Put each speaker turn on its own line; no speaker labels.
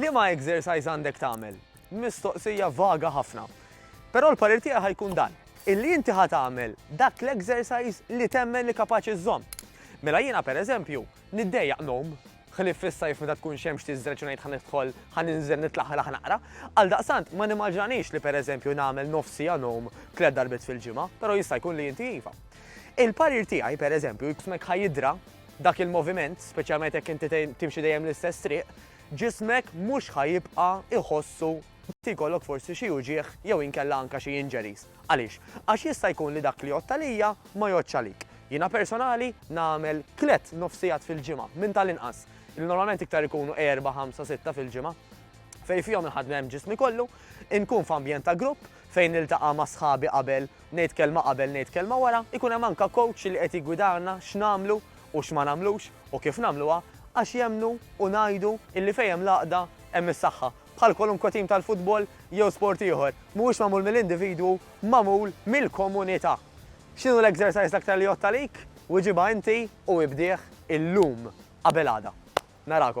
Liema exercise għandek tagħmel? Mistoqsija vaga ħafna. Però l-parir tiegħi ħa jkun dan, illi inti ħa tagħmel dak l-exercise li temmen li kapaċi żżomm. Mela jiena pereżempju, niddejjaq ngħum, ħlief fis-sajf meta tkun xemx tiżreġ u ngħid ħa nidħol ħa ninżel nitlaħlaħ naqra. Għal daqsant ma nimmaġinix li pereżempju nagħmel nofsija ngħum tliet darbiet fil-ġimgħa, però jista' jkun li inti iva. Il-parir tiegħi pereżempju jkun hekk ħajidra dak il-moviment, speċjalment jekk inti timxi dejjem l-istess triq, ġismek mhux ħa jibqa' jħossu li jkollok forsi xi uġigħ jew inkella anke xi injuries. Għaliex? Għax jista' jkun li dak li jgħodd għalija ma jgħoddx għalik. Jiena personali nagħmel tliet nofsigħat fil-ġimgħa minn tal-inqas, li normalment iktar ikunu erba', ħamsa, sitta fil-ġimgħa, fejn fihom inħaddem ġismi kollu, inkun f'ambjent ta' grupp fejn niltaqa' ma' sħabi qabel Ngħid kelma qabel ngħid kelma wara, ikun hemm anke coach li qed jiggwidana x'nagħmlu u x'ma nagħmlux u kif nagħmluha għax jemmnu u ngħidu illi fejn hemm l-għaqda hemm is-saħħa. Bħal kwalunkwe tim tal-futbol jew sport ieħor, mhuwiex magħmul mill-individwu, magħmul mill-komunità. X'inhu l-exercise l-aktar li jgħodd għalik? Wiġibha inti u ibdih illum qabel għada. Narakom.